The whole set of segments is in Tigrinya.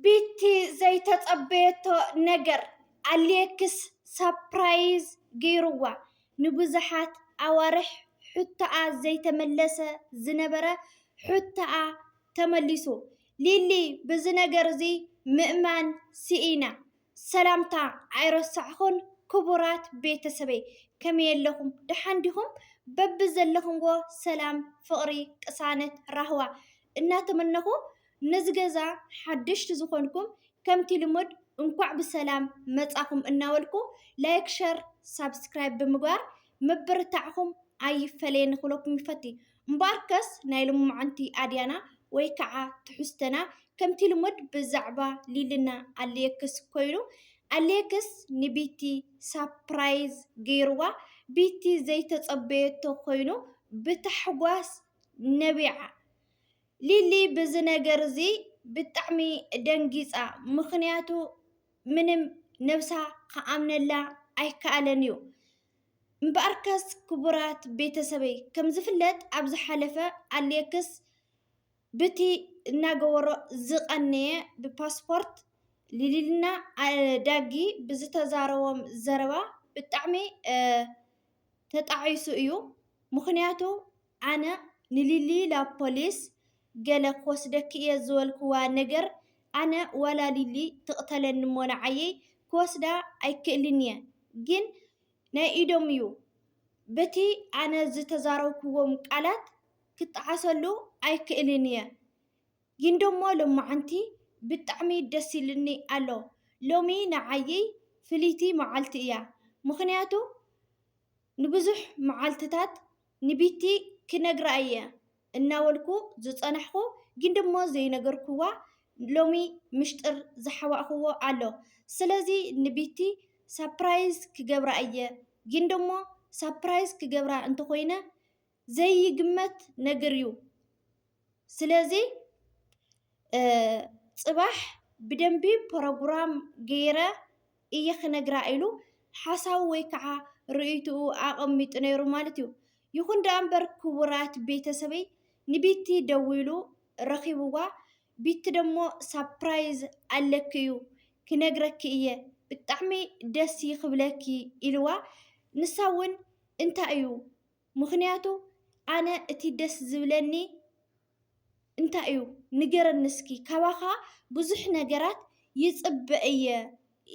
ቢቲ ዘይተጸበየቶ ነገር ኣሌክስ ሳፕራይዝ ገይሩዋ። ንብዙሓት ኣዋርሕ ሕቶኣ ዘይተመለሰ ዝነበረ ሕቶኣ ተመሊሱ። ሊሊ ብዚ ነገር'ዚ ምእማን ስኢና። ሰላምታ ኣይረሳዕኹን ክቡራት ቤተሰበይ ከመይ ኣለኹም ደሓን ዲኹም በብዘለኹምዎ ሰላም ፍቕሪ ቅሳነት ራህዋ እናተመነኹ ነዚ ገዛ ሓደሽቲ ዝኾንኩም ከምቲ ልሙድ እንኳዕ ብሰላም መፃኹም እናበልኩ ላይክ ሸር ሳብስክራይብ ብምግባር ምብርታዕኹም ኣይፈለየኒ ክብለኩም ይፈቲ እምበኣርከስ ናይ ሎምዓንቲ ኣድያና ወይ ከዓ ትሕዝቶና ከምቲ ልሙድ ብዛዕባ ሊልና ኣሌክስ ኮይኑ ኣሌክስ ንቢቲ ሳፕራይዝ ገይርዋ ቢቲ ዘይተፀበየቶ ኮይኑ ብታሕጓስ ነቢዓ። ሊሊ ብዚ ነገር እዚ ብጣዕሚ ደንጊፃ ምኽንያቱ ምንም ነብሳ ክኣምነላ ኣይከኣለን እዩ። እምበኣርከስ ክቡራት ቤተሰበይ ከም ዝፍለጥ ኣብ ዝሓለፈ ኣሌክስ ብቲ እናገበሮ ዝቐነየ ብፓስፖርት ሊሊና ኣዳጊ ብዝተዛረቦም ዘረባ ብጣዕሚ ተጣዒሱ እዩ ምኽንያቱ ኣነ ንሊሊ ላብ ፖሊስ ገለ ክወስደኪ እየ ዝበልክዋ ነገር ኣነ ዋላ ሊሊ ትቅተለኒ እሞ ንዓየይ ክወስዳ ኣይክእልን እየ ግን ናይ ኢዶም እዩ በቲ ኣነ ዝተዛረብክዎም ቃላት ክጣዓሰሉ ኣይክእልን እየ ጊንዶሞ ሎማዓንቲ ብጣዕሚ ደስ ኢሉኒ ኣሎ ሎሚ ንዓይይ ፍልይቲ ማዓልቲ እያ ምክንያቱ ንብዙሕ ማዓልትታት ንቢቲ ክነግራ እየ እናበልኩ ዝጸናሕኩ ግን ደሞ ዘይነገርኩዋ ሎሚ ምሽጥር ዝሓባእኩዎ ኣሎ ስለዚ ንቢቲ ሳፕራይዝ ክገብራ እየ ግን ደሞ ሳፕራይዝ ክገብራ እንተኮይነ ዘይግመት ነግር እዩ ስለዚ ፅባሕ ብደንቢ ፕሮግራም ገይረ እየ ክነግራ ኢሉ ሓሳቡ ወይ ከዓ ርእይትኡ ኣቐሚጡ ነይሩ ማለት እዩ። ይኹን ደኣ እምበር ክቡራት ቤተሰበይ ንቢቲ ደዊሉ ረኺብዋ ቢቲ ደሞ ሳፕራይዝ ኣለኪ እዩ ክነግረኪ እየ ብጣዕሚ ደስ ክብለኪ ኢልዋ ንሳ እውን እንታይ እዩ ምኽንያቱ ኣነ እቲ ደስ ዝብለኒ እንታይ እዩ ንገረኒ እስኪ ካባኻ ብዙሕ ነገራት ይፅበ እየ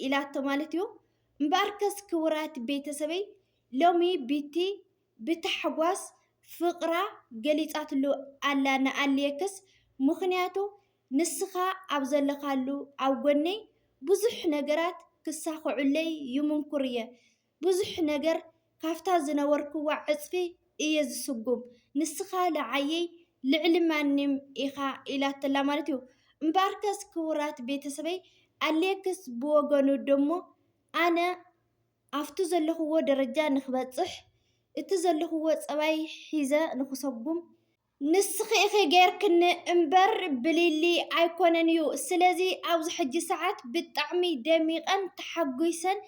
ኢላቶ ማለት እዩ። እምበኣርከስ ክቡራት ቤተሰበይ ሎሚ ቢቲ ብታሕጓስ ፍቕራ ገሊፃትሉ ኣላ ንኣሌክስ ምኽንያቱ ንስኻ ኣብ ዘለኻሉ ኣብ ጎነይ ብዙሕ ነገራት ክሳኽዑለይ ይምንኩር እየ ብዙሕ ነገር ካብታ ዝነበርክዋ ዕጽፊ እየ ዝስጉም፣ ንስኻ ንዓየይ ልዕሊ ማንም ኢኻ ኢላትላ ማለት እዩ። እምበኣርከስ ክቡራት ቤተሰበይ፣ ኣሌክስ ብወገኑ ደሞ ኣነ ኣብቲ ዘለኹዎ ደረጃ ንክበጽሕ፣ እቲ ዘለኹዎ ጸባይ ሒዘ ንክሰጉም፣ ንስኺ ኢኺ ጌርክኒ እምበር ብሊሊ ኣይኮነን እዩ ስለዚ ኣብዚ ሕጂ ሰዓት ብጣዕሚ ደሚቀን ተሓጉይሰን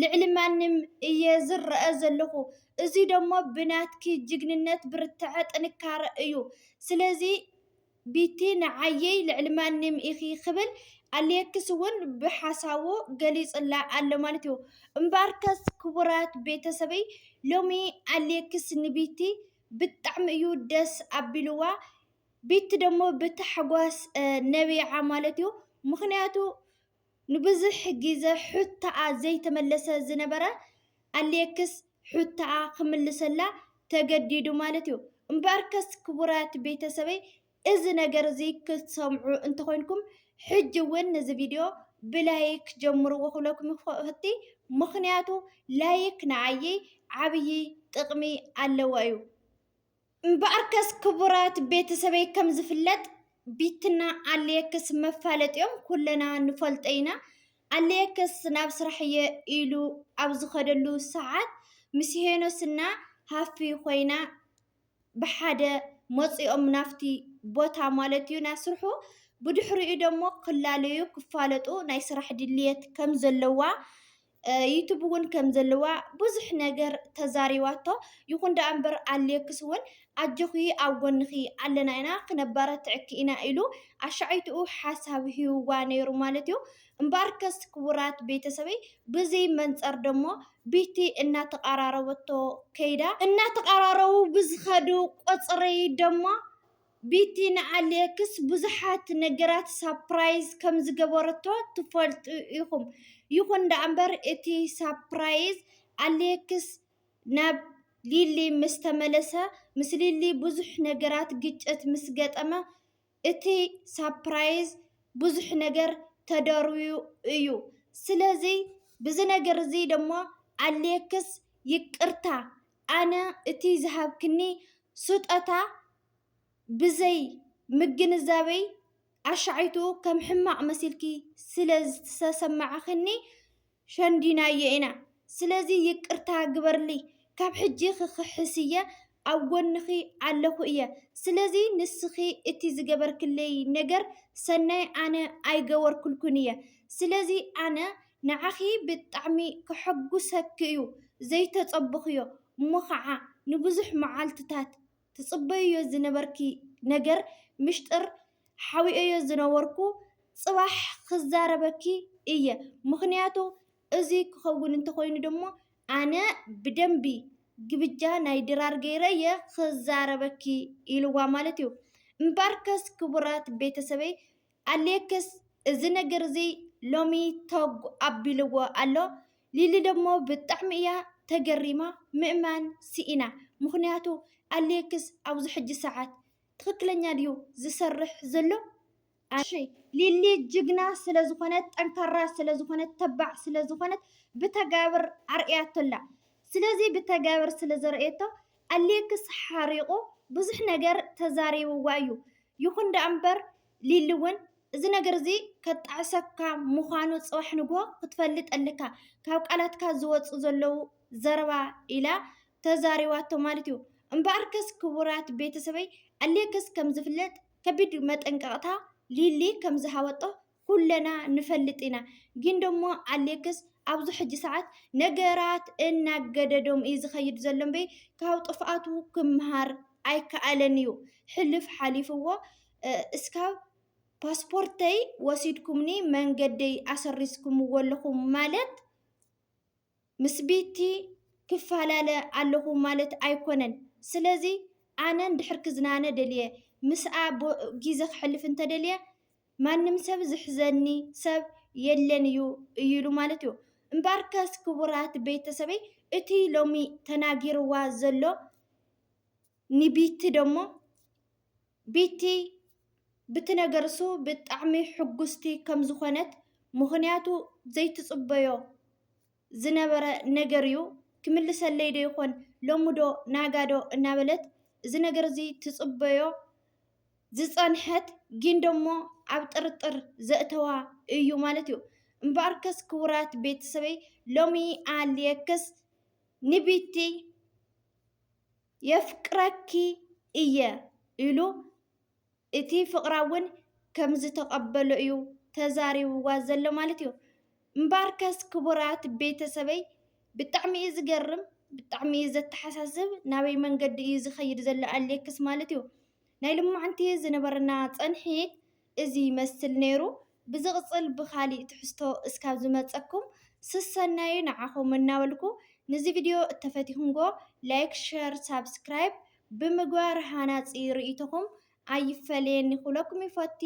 ልዕሊ ማንም እየ ዝረኣ ዘለኹ እዙይ ደሞ ብናትኪ ጅግንነት ብርትዐ ጥንካረ እዩ ስለዚ ቢቲ ንዓይይ ልዕሊ ማንም ኢኺ ክብል ኣሌክስ እውን ብሓሳቡ ገሊፁላ ኣሎ ማለት እዩ እምበኣርከስ ክቡራት ቤተሰበይ ሎሚ ኣሌክስ ንቢቲ ብጣዕሚ እዩ ደስ ኣቢልዋ ቤቲ ደሞ ብታሕጓስ ነቢዓ ማለት እዩ ምክንያቱ ንብዙሕ ግዘ ሑታኣ ዘይተመለሰ ዝነበረ ኣሌክስ ሑታኣ ክምልሰላ ተገዲዱ ማለት እዩ እምበኣርከስ ክቡራት ቤተሰበይ እዚ ነገር እዚ ክትሰምዑ እንተኾይንኩም ሕጂ እውን ነዚ ቪድዮ ብላይክ ጀምርዎ ክብለኩም ይፈቲ ምኽንያቱ ላይክ ንዓይ ዓብዪ ጥቕሚ ኣለዎ እዩ። እምበኣርከስ ክቡራት ቤተሰበይ ከም ዝፍለጥ ቢትና ኣለየክስ መፋለጢኦም ኩለና ንፈልጦ ኢና። ኣለየክስ ናብ ስራሕ እየ ኢሉ ኣብ ዝኸደሉ ሰዓት ምስ ሄኖስና ሃፊ ኮይና ብሓደ መፂኦም ናፍቲ ቦታ ማለት እዩ ናይ ስርሑ ብድሕሪኡ ደሞ ክላለዩ ክፋለጡ ናይ ስራሕ ድልየት ከም ዘለዋ ዩቱብ እውን ከም ዘለዋ ብዙሕ ነገር ተዛሪባቶ ይኹን ደኣ እምበር ኣሌክስ እውን ኣጆኺ ኣብ ጎንኺ ኣለና ኢና ክነበረትዕኪ ኢና ኢሉ ኣሻዒትኡ ሓሳብ ሂብዋ ነይሩ ማለት እዩ እምበኣርከስ ክቡራት ቤተሰበይ ብዝይ መንፀር ደሞ ቢቲ እናተቓራረበቶ ከይዳ። እናተቓራረቡ ብዝኸዱ ቁፅሪ ደሞ ቢቲ ንኣሌክስ ብዙሓት ነገራት ሳፕራይዝ ከምዝገበረቶ ትፈልጡ ኢኹም። ይኹን ደኣምበር እቲ ሳፕራይዝ ኣሌክስ ናብ ሊሊ ምስተመለሰ ምስ ሊሊ ብዙሕ ነገራት ግጭት ምስገጠመ እቲ ሳፕራይዝ ብዙሕ ነገር ተደርብዩ እዩ። ስለዚ ብዚ ነገር እዚ ደሞ ኣሌክስ ይቅርታ ኣነ እቲ ዝሃብክኒ ስጦታ ብዘይ ምግንዛበይ ኣሻዒቱ ከም ሕማቅ መሲልኪ ስለ ዝተሰማዕክኒ ሸንዲናዮ ኢና ስለዚ ይቅርታ ግበርልይ ካብ ሕጂ ክክሕስ እየ ኣብ ጎንኪ ኣለኩ እየ ስለዚ ንስኪ እቲ ዝገበርክለይ ነገር ሰናይ ኣነ ኣይገበርኩልኩን እየ ስለዚ ኣነ ንዓኪ ብጣዕሚ ከሐጉሰኪ እዩ ዘይተፀበኩዮ እሞ ከዓ ንብዙሕ መዓልትታት ትጽበይዮ ዝነበርኪ ነገር ምሽጥር ሓቢኤዮ ዝነበርኩ ጽባሕ ክዛረበኪ እየ ምክንያቱ እዚ ክከውን እንተኮይኑ ደሞ ኣነ ብደንቢ ግብጃ ናይ ድራር ገይረ እየ ክዛረበኪ ኢልዋ ማለት እዩ እምባርከስ ክቡራት ቤተሰበይ ኣሌክስ እዚ ነገር እዚ ሎሚ ቶግ ኣቢልዎ ኣሎ። ሊሊ ደሞ ብጣዕሚ እያ ተገሪማ ምእማን ስኢና ምኽንያቱ ኣሌክስ ኣብዚ ሕጂ ሰዓት ትኽክለኛ ድዩ ዝሰርሕ ዘሎ? እሺ ሊሊ ጅግና ስለ ዝኾነት ጠንካራ ስለ ዝኾነት ተባዕ ስለ ዝኾነት ብተጋብር ኣርእያቶ ኣላ። ስለዚ ብተጋብር ስለ ዘርእየቶ ኣሌክስ ሓሪቑ ብዙሕ ነገር ተዛሪብዋ እዩ። ይኹን ደኣ እምበር ሊሊ እውን እዚ ነገር እዚ ከጣዕሰካ ምዃኑ ፅባሕ ንግሆ ክትፈልጥ ኣለካ፣ ካብ ቃላትካ ዝወፁ ዘለዉ ዘረባ ኢላ ተዛሪባቶ ማለት እዩ። እምበኣርከስ ክቡራት ቤተሰበይ ኣሌክስ ከምዝፍለጥ ከቢድ መጠንቀቕታ ሊሊ ከምዝሃበቶ ኩለና ንፈልጥ ኢና ግን ደሞ ኣሌክስ ኣብዚ ሕጂ ሰዓት ነገራት እናገደዶም እዩ ዝኸይድ ዘሎ እምበይ ካብ ጥፍኣቱ ክመሃር ኣይከኣለን እዩ ሕልፍ ሓሊፍዎ እስካብ ፓስፖርተይ ወሲድኩምኒ መንገደይ ኣሰሪዝኩምዎ ኣለኹም ማለት ምስ ቤቲ ክፋላለ ኣለኹ ማለት ኣይኮነን ስለዚ ኣነ እንድሕር ክዝናነ ደልየ ምስኣ ጊዘ ክሕልፍ እንተደልየ ማንም ሰብ ዝሕዘኒ ሰብ የለን እዩ እዩ ኢሉ ማለት እዩ እምበኣርከስ ክቡራት ቤተሰበይ እቲ ሎሚ ተናጊርዋ ዘሎ ንቢቲ ደሞ ቢቲ ብቲ ነገርሱ ብጣዕሚ ሕጉስቲ ከም ዝኾነት ምኽንያቱ ዘይትጽበዮ ዝነበረ ነገር እዩ ክምልሰለይ ዶ ይኾን ሎሚ ዶ ናጋ ዶ እናበለት እዚ ነገር እዚ ትጽበዮ ዝጸንሐት ግን ደሞ ኣብ ጥርጥር ዘእተዋ እዩ ማለት እዩ እምበኣርከስ ክቡራት ቤተሰበይ ሎሚ ኣልየክስ ንቢቲ የፍቅረኪ እየ ኢሉ እቲ ፍቕራ እውን ከምዝተቐበሎ እዩ ተዛሪብዋ ዘሎ ማለት እዩ። እምበኣርከስ ክቡራት ቤተሰበይ ብጣዕሚ እዩ ዝገርም ብጣዕሚ እዩ ዘተሓሳስብ ናበይ መንገዲ እዩ ዝኸይድ ዘሎ ኣሌክስ ማለት እዩ ናይ ልማዕንቲ ዝነበረና ፀንሒት እዚ ይመስል ነይሩ ብዝቕጽል ብኻሊእ ትሕዝቶ እስካብ ዝመጸኩም ስሰናዩ ንዓኹም እናበልኩ ንዚ ቪድዮ እተፈቲኹምጎ ላይክ ሸር ሳብስክራይብ ብምግባር ሃናጺ ርእይቶኹም ኣይፈለየኒ ክብለኩም ይፈቲ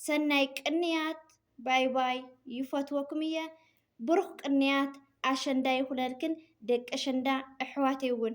ሰናይ ቅንያት ባይ ባይ ይፈትወኩም እየ ብሩኽ ቅንያት ኣሸንዳ ይኹነልክን ደቂ ኣሸንዳ እሕዋተይ ውን።